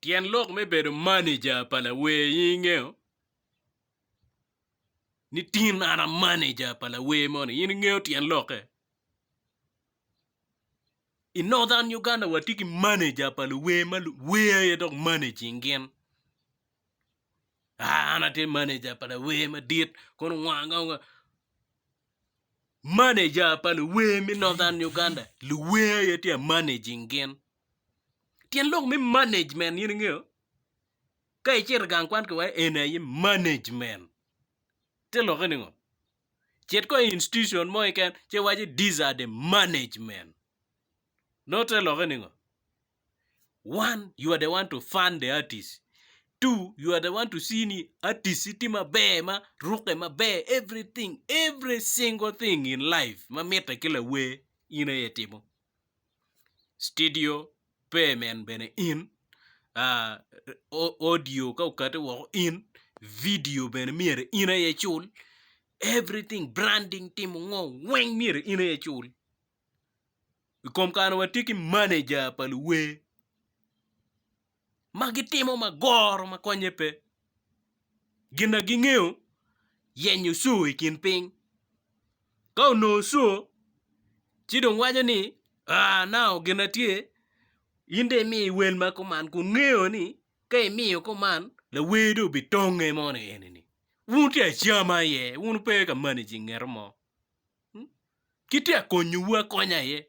Tyen lok me bedo maneja pa lawer in ingeyo ni tin an a maneja pa lawer moni in ingeyo tyen lokke? I Northern Uganda watye ki maneja pa luwer ma luwer aye dok managing gin aa an atye maneja pa lawer madit kono wange wange maneja pa luwer me Northern Uganda luwer aye tye a managing gin. Tyen lok me management in ingeyo? Ka icito gang kwan ki wai eni aye management te lokke ni ngo? Cit ko i institution mo keken ci iwaci these are the management nongo te lokke ni ngo? One you are the one to fund the artist, two you are the one to see ni artist tye maber ma rukke maber everything, every single thing in life ma mitte ki lawer in aye itimo. Citidio pe min bene in audio ka okati woko in video bene myero in aye icul everything branding timo ngo weng myero in aye icul i kom kare watye ki manager pa luwer. ma gitimo ma goro ma konye pe. Gin ma gingeyo yenyo coo i kin piny ka onongo coo ci dong waco ni aa nao gin ma tye in dong imi wel ma kuman kun ngeyo ni ka imiyo kuman lawer dong obitonge mo ni eni ni wun wutye ka cam aye wun wupe ka managing ngeto mo kitye ka konyowu akonya aye.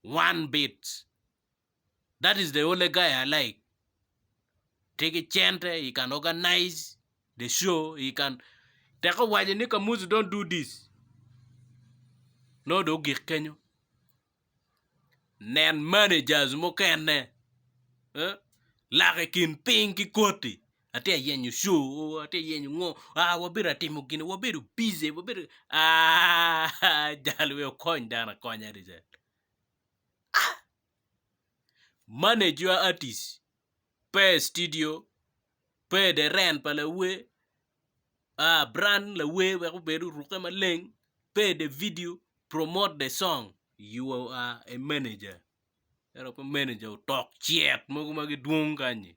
One bit. That is the only guy I like. Tye ki cente he can organize the show he can tek owaco ni Kamuzu don't do this nongo dong ogik kenyo. Nen managers mukene lak i kin piny ki koti Atye ka yenyo co oo atye ka yenyo ngo aa wabedo ka timo gin wabedo bici wabedo aa jal wee okony dano akonya adada aa manager atis pe i studio pe i dye rent pa lawer aa brand lawer wek obed oruke maleng pe i dye vidio promot dye cong you are a manager ento pe manager otok cet mogo ma gidwong kany-nyi.